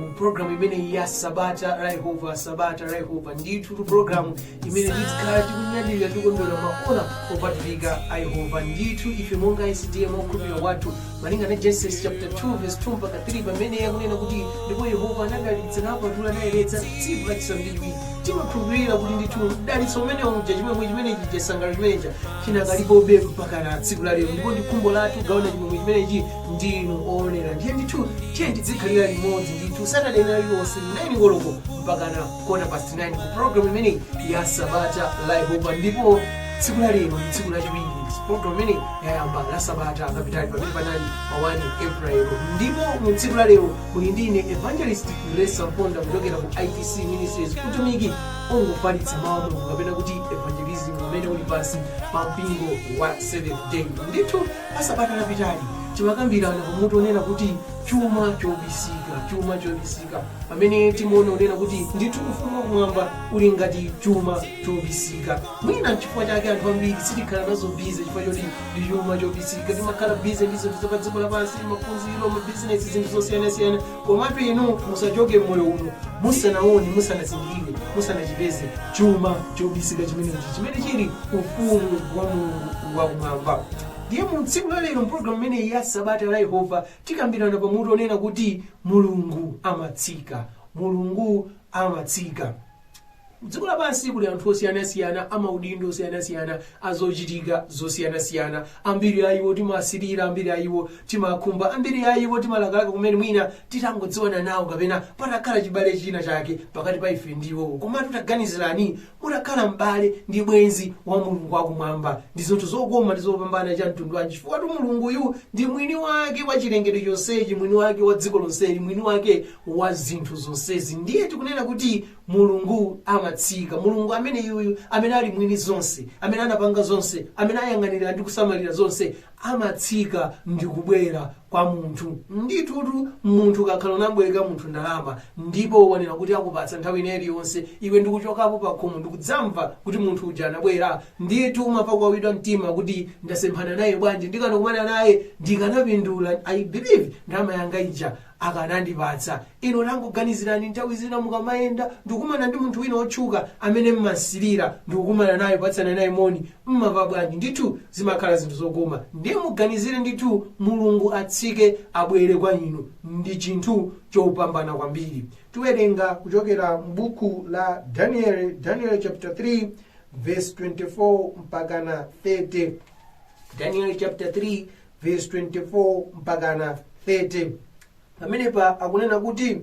mu programu imeneyi ya sabata la yehova sabata la yehova ndithutu programu imene tikhala tikunyadilira tikondwera maola opatulika a yehova ndithu ife monga sda mchikhulupiriro chathu malinga na genesis chapter 2 verse 2 mpaka 3 pamene yakunena kuti ndipo yehova anadalitsa napatula naliyeretsa tsiku lachisanu ndi chiwiri timakhulupirira kuti ndithu mdalitso umene uja chimwemwe chimene chija chisangalalo chimene chija chinakalipobe mpakana tsiku la lero ndipo ndi khumbo lathu kugawana chimwemwe chimenechi ndinu owonera ndiye ndithu tiyeni tidzikhalira limodzi ndithu saturday ina iliyonse 9 koloko mpakana quarter past 9 ku program imeneyi ya sabata la yehova ndipo tsiku la lero ndi tsiku lachiwiri program imeneyi inayamba la sabata lapitali pamene panali pa 1 april ndipo mu tsiku la lero muli ndi ine evangelist grace mponda kuchokera ku itc ministries utumiki ofalitsa mawu a mulungu kapena kuti evangelism umene uli pansi pa mpingo wa 7 day adventist la sabata lapitali timakambirana pa mutu onena kuti chuma chobisika chuma chobisika pamene timaona kunena kuti ndithu ufumu wakumwamba uli ngati chuma chobisika mwina nchifukwa chake anthu ambiri sitikhala nazo busy chifukwa choti ndi chuma chobisika timakhala busy ndi zinthu za pa dziko lapansi maphunziro mabizinesi zinthu zosiyanasiyana Komatu inu musachoke m'moyo uno musanaone, musanazindikire, musanachipeze chuma chobisika chimenechi chimene chili ufumu wa Mulungu wakumwamba. Ndiye mu tsiku la lero mpologalamu imeneyi ya sabata la Yehova tikambirana pamutu onena kuti Mulungu amatsika. Mulungu amatsika. Kudziko lapansi kuli anthu osiyanasiyana amaudindo osiyanasiyana azochitika zosiyanasiyana ambiri a iwo timawasilira ambiri a iwo timakhumba ambiri a iwo timalakalaka kuti mwina titangodziwana nawo kapena patakhala chibale china chake pakati pa ife ndi iwowo komatu taganizirani mutakhala m'bale ndi bwenzi wa mulungu wakumwamba ndi zinthu zokoma ndi zopambana cha mtundu wanji chifukwatu mulunguyu ndi mwini wake wa chilengedwe chonsechi mwini wake wa dziko lonseli mwini wake wa zinthu zonsezi ndiye tikunena kuti mulungu amatsika mulungu ameneyuyu amene ali mwini zonse amene anapanga zonse amene ayang'anira ndi kusamalira zonse amatsika ndi kubwera kwa munthu nditutu munthu ukakhala unamubwereka munthu ndalama ndipo wanena kuti akupatsa nthawi ina iliyonse iwe ndikuchokapo pakhomo ndikudzamva kuti munthu uja anabwera ndiye ndithu umamva kuwawidwa mtima kuti ndasemphana naye bwanji ndikanakumana naye ndikanapindula mwina bwenzi ndalama yanga ija akanandipatsa. Inu tangoganizirani nthawi zina mukamayenda ndikukumana ndi munthu wina wotchuka amene mumamusirira ndikukumana naye kupatsana naye moni, mumamva bwanji? Ndithu zimakhala zinthu zokoma. Ndiye muganizire ndithu Mulungu atsike abwere kwa inu ndi chinthu chopambana kwambiri. Tiwerenga kuchokera m'buku la Danieli, Danieli chapter 3 verse 24 mpakana 30. Danieli chapter 3 vesi 24 mpakana 30 pamenepa akunena kuti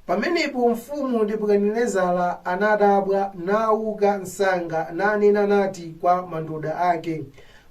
pamenepo mfumu nebukadinezara anadabwa nauka msanga nanena nati kwa mandoda ake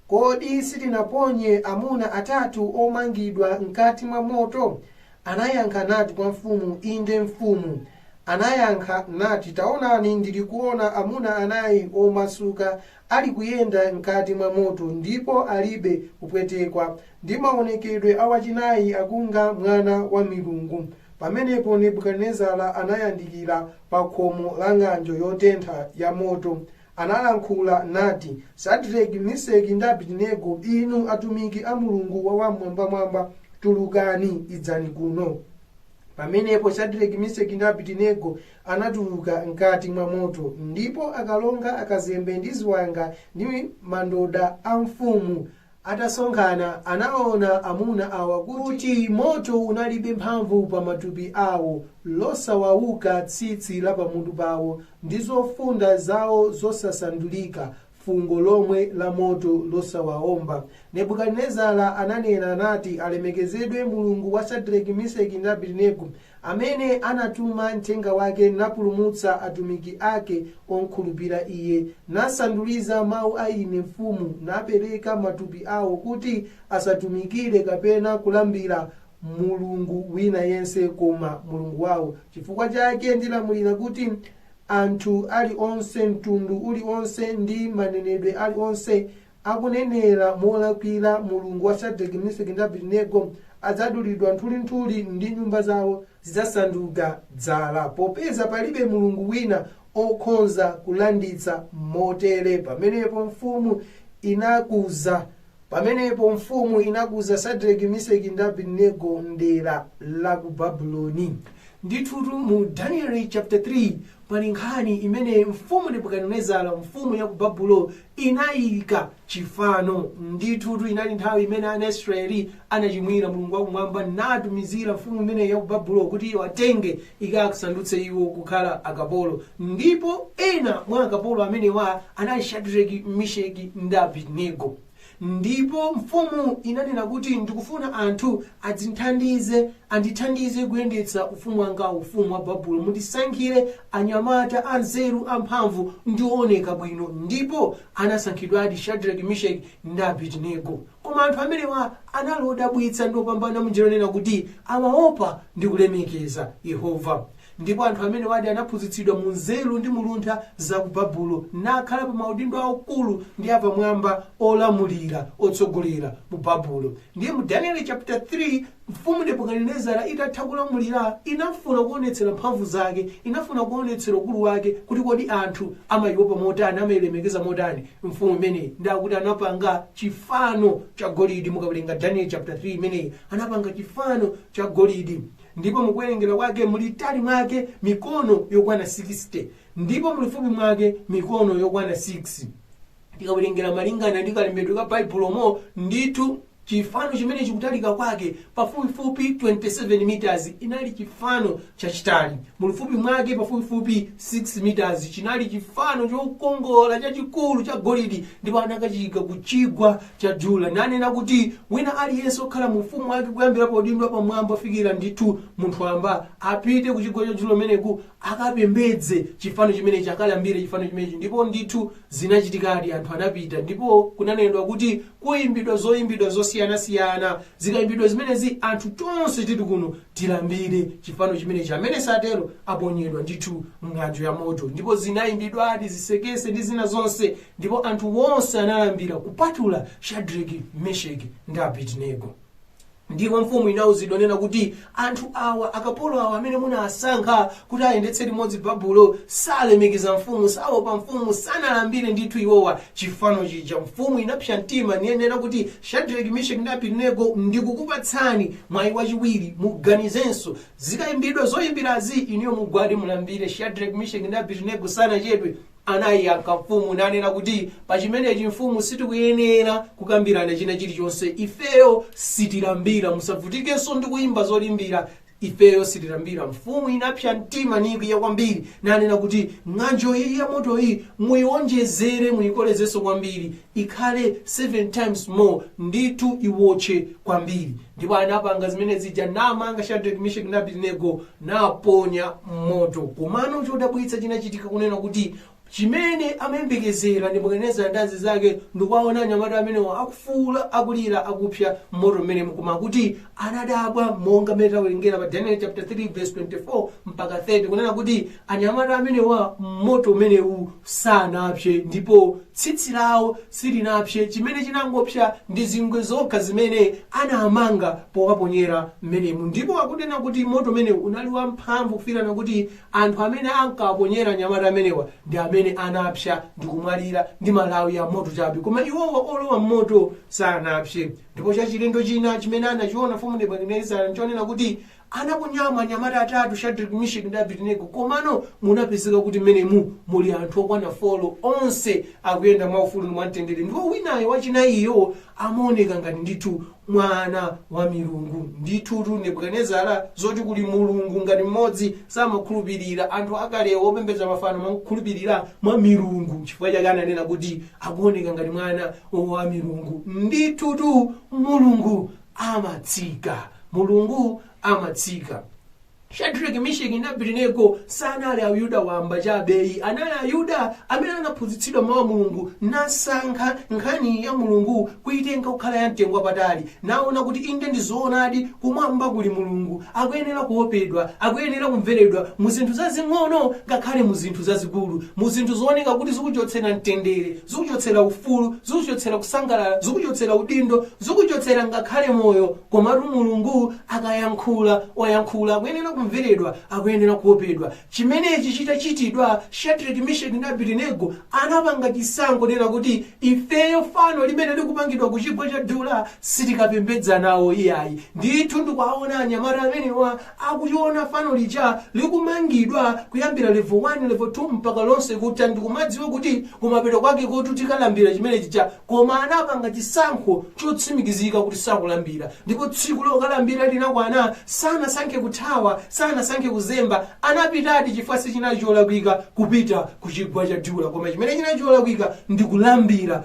kodi sitinaponye amuna atatu omangidwa mkati mwa moto anayankha nati kwa mfumu inde mfumu anayankha nati taonani ndilikuona amuna anayi omasuka Ali kuyenda mkati mwa moto ndipo alibe kupwetekwa, ndi mawonekedwe a wachinayi akunga mwana wa milungu. Pamenepo Nebukadinezara anayandikira pa khomo la ng'anjo yotentha ya moto, analankhula, nati, Sadireki, Miseki, ndi Abidinego, inu atumiki a Mulungu Wam'mwambamwamba, tulukani, idzani kuno. Pamenepo Sadireki, Miseki, ndi Abidinego anatuluka m'kati mwa moto, ndipo akalonga, akazembe ndi ziwanga ndi mandoda a mfumu atasonkhana, anaona amuna awa kuti moto unalibe mphamvu pa matupi awo, losawawuka tsitsi la pamutu pawo, ndi zofunda zawo zosasandulika, fungo lomwe la moto losawaomba. Nebukadinezara ananena nati, Alemekezedwe Mulungu wa Sadrake, Miseki ndi Abedenego, amene anatuma mthenga wake napulumutsa atumiki ake omkhulupira Iye, nasanduliza mau a ine mfumu, napereka matupi ao kuti asatumikire kapena kulambira mulungu wina yense koma Mulungu wao. Chifukwa chake ndilamulira kuti anthu ali onse, mtundu uli onse, ndi manenedwe ali onse akunenera molakwira Mulungu wa Shadrach, Meshach, ndi Abednego adzadulidwa nthulinthuli ndi nyumba zawo zidzasanduka dzala, popeza palibe Mulungu wina okhonza kulanditsa motere. Pamenepo mfumu inakuza Pamenepo mfumu inakuza Sadrake, Miseki ndi Abednego m'dera la ku Babuloni. Ndithutu mu Danieli chapter 3 pali nkhani imene mfumu Nebukadinezara mfumu ya ku Babuloni inayika chifano. Ndithutu inali nthawi imene ana Israeli anachimwira Mulungu wakumwamba natumizira mfumu imeneyi ya ku Babuloni kuti iwatenge ikasandutse iwo kukhala akapolo. Ndipo ena mwa akapolo amenewa anali Shadireki, Misheki ndi Abedinego. Ndipo mfumu inanena kuti, Ndikufuna anthu adzindithandize, andithandize kuyendetsa ufumu wangawu, ufumu wa Babulo. Mundisankhire anyamata anzeru, amphamvu ndi ooneka bwino. Ndipo anasankhidwadi Shadireki, Misheki ndi Abedinego. Koma anthu amenewa anali odabwitsa ndi opambana mwanjira yonena kuti amaopa ndi kulemekeza Yehova. Ndipo anthu amenewadi anaphunzitsidwa mu nzeru ndi mu luntha za ku Babulo, nakhala pa maudindo aukulu ndi apamwamba olamulira, otsogolera, mu Babulo. Ndiye mu Danieli caputa 3 Mfumu Nebukadinezara itatha kulamulira, inafuna kuonetsera mphamvu zake, inafuna kuonetsera ukulu wake kuti kodi anthu amaiopa motani, amailemekeza motani mfumu imeneyi. Ndiye akuti anapanga chifano cha golidi. Mukawerenga Daniel chapter 3 imeneyi, anapanga chifano cha golidi ndipo mukuwerengera kwake mulitali mwake mikono yokwana 60 ndipo mulifupi mwake mikono yokwana 6. tikawerengera malingana ndi kalembedwe ka baibulomo ndithu chifano chimenechi kutalika kwake pafupifupi 27 meters chinali chifano chachitali mulifupi mwake pafupifupi 6 meters chinali chifano chokongola chachikulu cha golidi ndipo anakachiyika ku chigwa cha dula nanena kuti wina aliyense okhala mu ufumu wake kuyambira paudindo wapamwamba kufikira ndithu munthu wamba apite ku chigwa cha dula kumeneku akapembedze chifano chimenechi, akalambire chifano chimenechi. Ndipo ndithu zinachitikadi, anthu anapita ndipo kunanenedwa kuti kuyimbidwa zoyimbidwa zosiyanasiyana. Zikayimbidwa zimenezi anthu tonse tili kuno tilambire chifano chimenechi, amene satero aponyedwa ndithu m'ng'anjo ya moto. Ndipo zinayimbidwadi zisekese ndi zina zonse, ndipo anthu onse analambira kupatula Shadraki, Meshaki ndi Abedinego. ndipo mfumu inauzidwa nena kuti anthu awa akapolo awa amene munawasankha kuti ayendetse limodzi babulo salemekeza mfumu saopa mfumu sanalambire ndithu iwowa chifano chija mfumu inapsa mtima ninena kuti shadraki misheki ndi abidinego ndikukupatsani mwayi wachiwiri muganizenso zikayimbidwa zoyimbirazi inuyo mugwade mulambire shadraki misheki ndi abidinego sanachedwe Anaiyankha mfumu nanena kuti, Pa chimenechi mfumu sitikuyenera kukambirana china chilichonse, ifeyo sitilambira, musavutikenso ndi kuimba zoyimbira, ifeyo sitilambira. Mfumu inapsa mtima nikwiya kwambiri, nanena kuti, Ng'anjo iyi yamotoyi muionjezere, muikolezenso kwambiri, ikhale 7 times more ndithu iwotche kwambiri ndipo anapanga zimenezija namanga shadrack mishek ndi abedinego nawaponya m'moto komano chodabwitsa chinachitika kunena kuti chimene amayembekezera Nebukadinezara ndi nduna zake ndikuwaona anyamata amenewa akufuula akulira akupsa m'moto mmene mkuma kuti anadabwa monga mmene tawerengera pa daniel chapter 3 verse 24 mpaka 30 kunena kuti anyamata amenewa mmoto umenewu sanapse ndipo tsitsi lawo silinapse chimene chinangopsa ndi zingwe zokha zimene anamanga powaponyera mmenemu ndipo akunena kuti moto umenewu unali wamphamvu kufikirana kuti anthu amene ankawaponyera anyamata amenewa ndi amene anapsa ndi kumwalira ndi malawi a moto chabe koma iwowa olowa mmoto sanapse Ndipo chachilendo china chimene anachiona Mfumu Nebukadinezara n'chonena kuti anaponya anyamata atatu, Shadraki, Misheki ndi Abedinego, komano munapezeka kuti mmenemu muli anthu okwana folo, onse akuyenda mwaufulu ndi mwamtendere, ndipo winayo wachinayiyo amaoneka ngati ndithu mwana wa milungu. Ndithutu Nebukadinezara zoti kuli Mulungu ngati mmodzi samakhulupirira. Anthu akalewo opembedza mafano amakhulupirira mwa milungu. N'chifukwa chake ananena kuti akuoneka ngati mwana wa milungu, ndithutu Mulungu amatsika. Mulungu amatsika. Shadrach, Misheki ndi Abednego sanali Ayuda wamba chabe ayi, anali Ayuda amene anaphunzitsidwa Mawu a Mulungu, nasankha nkhani ya Mulungu kuitenga kukhala yamtengo wapatali, naona kuti inde ndi zoonadi, kumwamba kuli Mulungu, akuyenera kuopedwa, akuyenera kumveredwa mu zinthu zazing'ono ngakhale mu zinthu zazikulu, mu zinthu zooneka kuti zikuchotsera mtendere. zikuchotsera ufulu, zikuchotsera kusangalala, zikuchotsera udindo, zikuchotsera ngakhale moyo. Komatu Mulungu akayankhula, wayankhula, akuyenera kumveredwa, akuyenera kuopedwa. Chimenechi chitachitidwa, Shadrach, Meshach ndi Abednego anapanga chisankho chonena kuti ifeyo fano limene likupangidwa ku chigwa cha Dura sitikapembedza nawo iyayi. Ndithu ndikuwaona anyamata amenewa akuliona fano lija likumangidwa kuyambira level 1, level 2 mpaka lonse kutha ndikumadziwa kuti kumapeto kwakekotu tikalambira chimene chija koma anapanga chisankho chotsimikizika kuti sakulambira ndipo tsiku lokalambira linakwana sanasankhe kuthawa, sanasankhe kuzemba anapitadi chifukwa sichinali cholakwika kupita kuchigwa cha Dura koma chimene chinali cholakwika ndi kulambira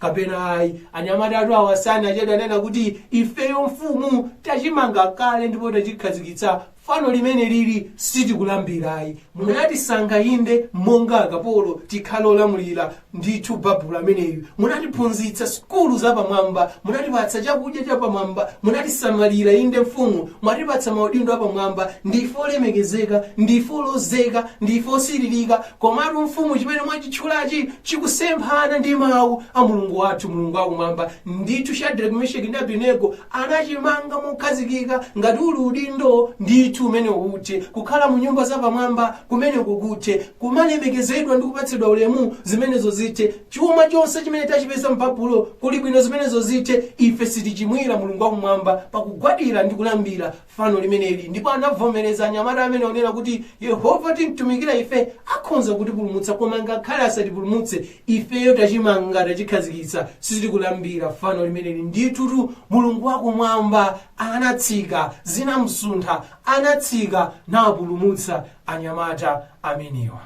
kapena ayi anyamatatu awa sanachedwe ananena kuti ifeyo mfumu tachimanga kale ndipo tachikhazikitsa fano limeneli sitikulambirayi munatisankha inde monga akapolo tikhale olamulira ndithu babulo ameneyu munatiphunzitsa sukulu zapamwamba munatipatsa chakudya chapamwamba munatisamalira inde mfumu mwatipatsa maudindo apamwamba ndife olemekezeka ndife olozeka ndife osiririka Komatu mfumu chimene mwachitchulachi chikusemphana ndi mawu a Mulungu wathu, Mulungu wakumwamba. Ndithu Shadrake, Mesheki ndi Abednego anachimanga mokhazikika ngati uli udindo ndithu umenewu uthe kukhala mu nyumba zapamwamba kumeneko kuthe kumalemekezedwa ndi kupatsidwa ulemu zimenezo zithe chuma chonse chimene tachipeza m'Babulo kuli bwino zimenezo zithe ife sitichimwira Mulungu wakumwamba pakugwadira ndi kulambira fano limeneli ndipo anavomereza anyamata amenewa kunena kuti yehova timtumikira ife akhonza kutipulumutsa koma ngakhale asatipulumutse ifeyo tachimanga tachikhazikitsa sitikulambira fano limeneli ndithutu mulungu wakumwamba anatsika zinamsuntha anatsika napulumutsa anyamata amenewa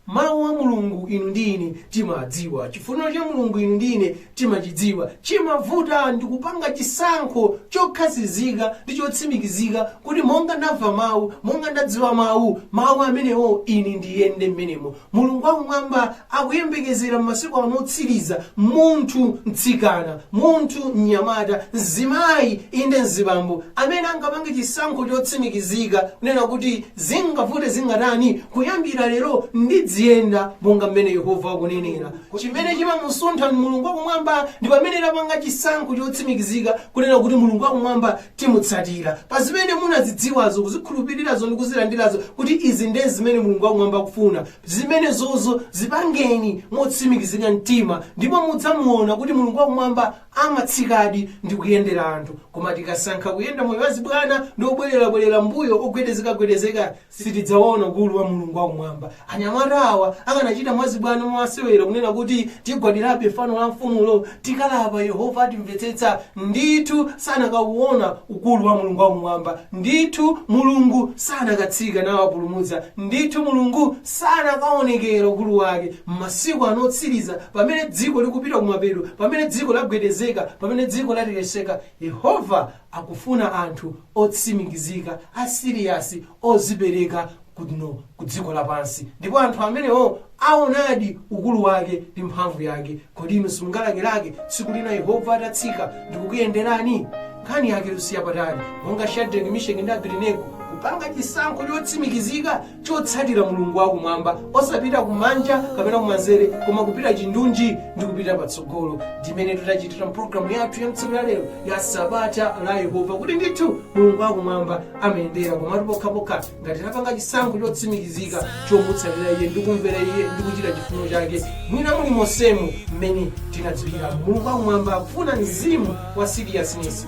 mawu a mulungu inu ndi ine timadziwa chifuniro cha mulungu inu ndi ine timachidziwa chimavuta ndi kupanga chisankho chokhazikika ndi chotsimikizika kuti monga ndamva mawu monga ndadziwa mawu mawu amenewo ine ndiyende mmenemo mulungu wakumwamba akuyembekezera m'masiku ano otsiriza munthu mtsikana munthu mnyamata mzimayi inde mzibambo amene angapange chisankho chotsimikizika kunena kuti Zingavute zingatani, kuyambira lero ndidziyenda monga mmene Yehova akunenera. Chimene chimamusuntha Mulungu wa Kumwamba ndi pamene tapanga chisankho chotsimikizika kunena kuti Mulungu wa Kumwamba timutsatira. Pa zimene munazidziwazo, kuzikhulupilirazo ndi kuzilandirazo kuti izi nde zimene Mulungu wa Kumwamba akufuna, zimenezozo zipangeni motsimikizika mtima ndipo mudzamuona kuti Mulungu wa Kumwamba amatsikadi ndi kuyendera anthu koma tikasankha kuyenda moyo wa zibwana ndi obwelerabwelera m'mbuyo ogwedezekagwedezeka sitidzaona ukulu wa mulungu wakumwamba anyamata awa akanachita mwazibwana mwamasewera kunena kuti tigwadirabe fano la mfumulo tikalapa yehova atimvetsetsa ndithu sanakauona ukulu wa mulungu wakumwamba ndithu mulungu sanakatsika nawapulumutsa ndithu mulungu sanakaonekera ukulu wake m'masiku ano otsiriza, pamene dziko likupita kumapeto, pamene dziko lagwedezeka, pamene dziko latekeseka, Yehova akufuna anthu otsimikizika, a serious, ozipereka kuno ku dziko lapansi. Ndipo anthu amenewo aonadi ukulu wake ndi mphamvu yake. Kodi inu simungalakelake tsiku lina Yehova atatsika ndi kukuyenderani? Nkhani yake siya patali, monga Shadrach, Misheki ndi Abedinego kupanga chisankho chotsimikizika chotsatira mulungu wakumwamba osapita kumanja kapena kumanzere koma kupita chindunji ndi kupita patsogolo ndimene titachitira mpulogalamu yathu ya tsiku la lero ya sabata la yehova kuti ndithu mulungu wakumwamba amayendera komatu pokhapokha ngati tapanga chisankho chotsimikizika chomutsatira iye ndi kumvera iye ndi kuchita chifuno chake mwina muli monsemu mmene tinadziwira mulungu wakumwamba akufuna mzimu wa seriousness